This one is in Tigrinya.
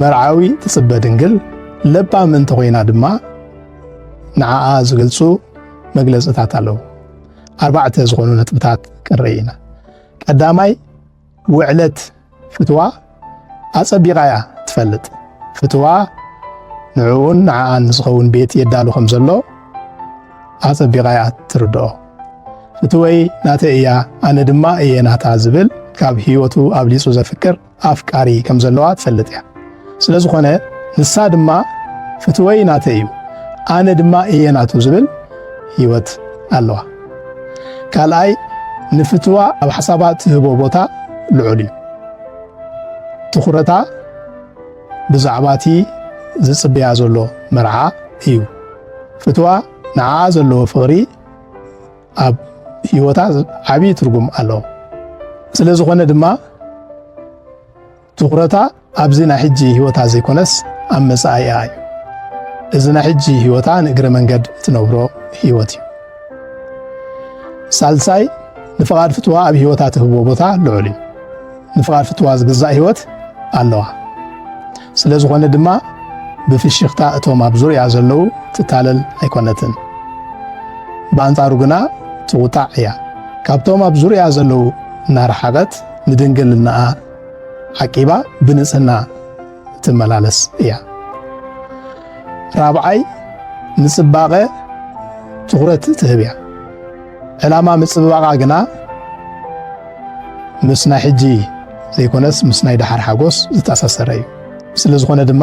መርዓዊ ትጽበ ድንግል ለባም እንተኾይና ድማ ንዓኣ ዝገልጹ መግለጽታት ኣለዉ። ኣርባዕተ ዝኾኑ ነጥብታት ክንርኢ ኢና። ቀዳማይ ውዕለት ፍትዋ ኣጸቢቓ እያ ትፈልጥ። ፍትዋ ንዕኡን ንዓኣን ዝኸውን ቤት የዳሉ ከም ዘሎ ኣጸቢቓ እያ ትርድኦ። ፍትወይ ናተይ እያ ኣነ ድማ እየ ናታ ዝብል ካብ ህይወቱ ኣብሊጹ ዘፍቅር ኣፍቃሪ ከም ዘለዋ ትፈልጥ እያ። ስለ ዝኾነ ንሳ ድማ ፍትወይ ናተይ እዩ፣ ኣነ ድማ እየ ናቱ ዝብል ህይወት ኣለዋ። ካልኣይ ንፍትዋ ኣብ ሓሳባ ትህቦ ቦታ ልዑል እዩ። ትኹረታ ብዛዕባ እቲ ዝጽበያ ዘሎ መርዓ እዩ። ፍትዋ ንዓኣ ዘለዎ ፍቕሪ ኣብ ህይወታ ዓብዪ ትርጉም ኣለዎ። ስለ ዝኾነ ድማ ትኹረታ ኣብዚ ናይ ሕጂ ህይወታ ዘይኮነስ ኣብ መጻኢያ እዩ። እዚ ናይ ሕጂ ህይወታ ንእግረ መንገድ እትነብሮ ህይወት እዩ። ሳልሳይ ንፍቓድ ፍትዋ ኣብ ህይወታ ትህቦ ቦታ ልዑል እዩ። ንፍቓድ ፍትዋ ዝግዛእ ህይወት ኣለዋ። ስለ ዝኾነ ድማ ብፍሽኽታ እቶም ኣብ ዙርያ ዘለዉ ትታለል ኣይኮነትን። ብኣንጻሩ ግና ትቑጣዕ እያ። ካብቶም ኣብ ዙርያ ዘለዉ እናረሓቐት ንድንግልናኣ ዓቂባ ብንጽህና ትመላለስ እያ። ራብዓይ ንጽባቐ ትኹረት ትህብ እያ። ዕላማ ምጽብባቓ ግና ምስ ናይ ሕጂ ዘይኮነስ ምስ ናይ ደሓር ሓጎስ ዝተኣሳሰረ እዩ። ስለ ዝኾነ ድማ